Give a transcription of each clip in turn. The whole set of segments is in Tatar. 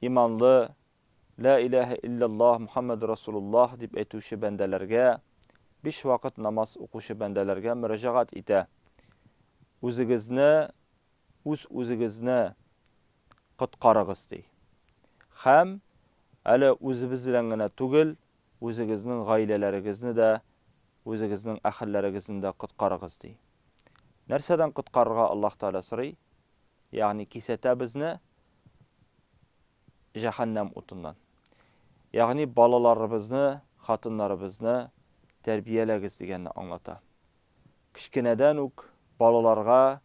иманлы, Лә иләһә илляллаһ Мөхәммәдүр Расулуллаһ дип әйтүче бәндәләргә, биш вакыт намаз укучы бәндәләргә мөрәҗәгать итә, Үзегезне, үз-үзегезне коткарыгыз, ди. Һәм, әле үзебез белән генә түгел, үзегезнең гаиләләрегезне дә, үзегезнең әһелләрегезне дә коткарыгыз, ди. Нәрсәдән коткарырга Аллаһ Тәгалә сорый? Ягъни кисәтә безне, җәһәннәм утыннан. Ягъни балаларыбызны, хатыннарыбызны тәрбияләгез дигәнне аңлата. Кечкенәдән үк балаларга,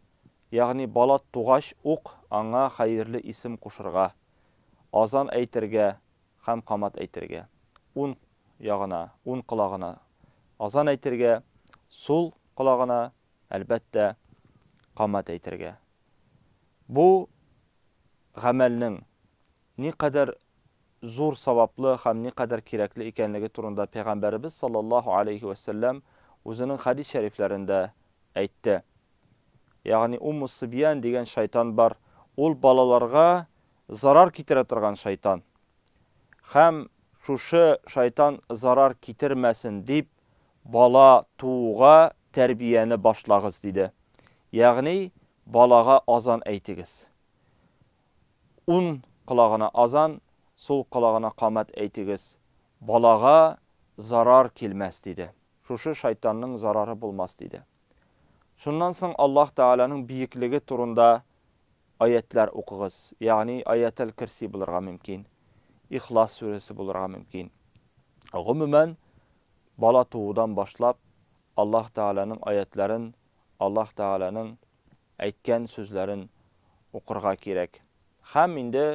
ягъни бала тугач ук аңа хәерле исем кушырга, азан әйтергә һәм камат әйтергә, ун ягына, ун колагына азан әйтергә, сул колагына, әлбәттә, камат әйтергә. Бу гамәлнең никадәр зур саваплы һәм никадәр кирәкле икәнлеге турында Пәйгамбәребез салләллаһу галәйһи вә сәлләм үзенең хәдис шәрифләрендә әйтте. Ягъни Умму-Сыбьян дигән шайтан бар, ул балаларга зарар китерә торган шайтан. Һәм шушы шайтан зарар китермәсен дип, бала тууга тәрбияне башлагыз, диде. Ягъни, балага азан әйтегез. Ун колагына азан, сул колагына камәт әйтегез. Балага зарар килмәс, диде. Шушы шайтанның зарары булмас, диде. Шуннан соң Аллаһ Тәгаләнең биеклеге турында Аятьләр укыгыз, ягъни Аятел Керси булырга мөмкин, Ихлас сүрәсе булырга мөмкин. Гомумән, бала туудан башлап, Аллаһ Тәгаләнең аятьләрен, Аллаһ Тәгаләнең әйткән сүзләрен укырга кирәк. Һәм инде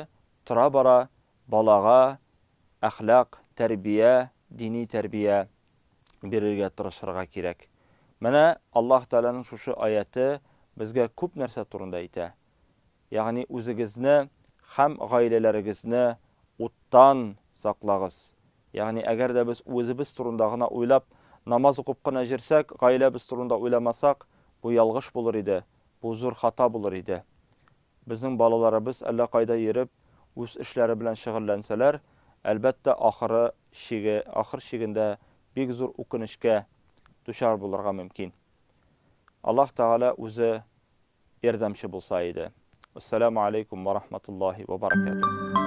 тора-бара балага әхлак, тәрбия, дини тәрбия бирергә тырышырга кирәк. Менә Аллаһ Тәгаләнең шушы аяте безгә күп нәрсә турында әйтә. Ягъни үзегезне һәм гаиләләрегезне уттан саклагыз. Ягъни әгәр дә без үзебез турында гына уйлап, намаз укып кына җерсәк, гаиләбез турында уйламасак, бу ялгыш булыр иде, бу зур хата булыр иде. Безнең балаларыбыз әллә кайда йөреп, үз эшләре белән шөгыльләнсәләр, әлбәттә, ахыры чиге, ахыр чигендә бик зур үкенечкә дучар булырга мөмкин. Аллаһ Тәгалә үзе ярдәмче булса иде. Уссәләмү алейкум вә рахматуллаһи вә баракәтүһ.